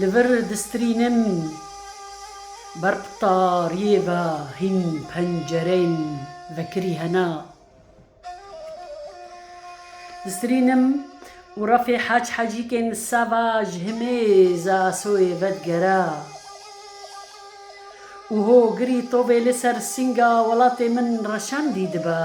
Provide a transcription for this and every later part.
Li vir distrînim ber qutariyê ve hîn pencereyên vekirî hene. Distrînim û refê heç hecîkên li seva ji himêza soyê ve digere û hogirî tovê li ser sînga welatê min reşendî dibe.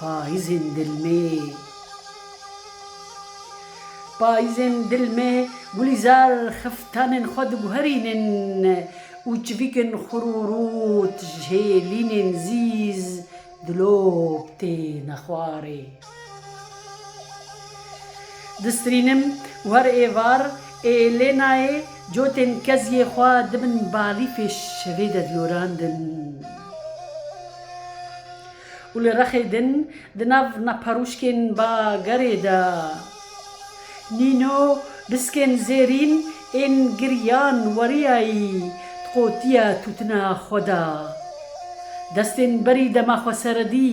Payîzên dil mê Payîzên dil mê Gulîzar xiftanên xwe diguherînin û çivîkên xurûrût ji hêlînên zîz dilop têne xwarê. Distrînim war ê var ê lê nayê cotên keziyê xwe dibin balîfê şevê de diyorandin û li rexê din di nav naparûşkên bagerê de nîno biskên zêrîn ên giriyan weriyayî di qotiya tûtina xwe de destên berî dema xweseredî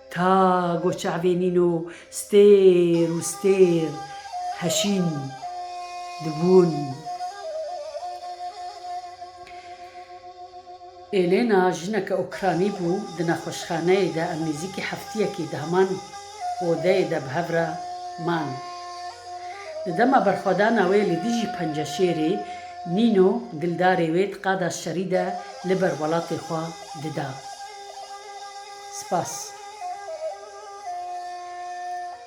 Ta go çavê nîno stêr û stêr heşîn dibûn. Elena jineke Ukranî bû, di nexweşxaneyê de em nêzîkî heftiyekî di heman odeyê de bi hev re man. Di dema berxwedana wê li dijî penceşêrê nîno gildarê wê di qada şerî de li ber welatê xwe dida. Spas.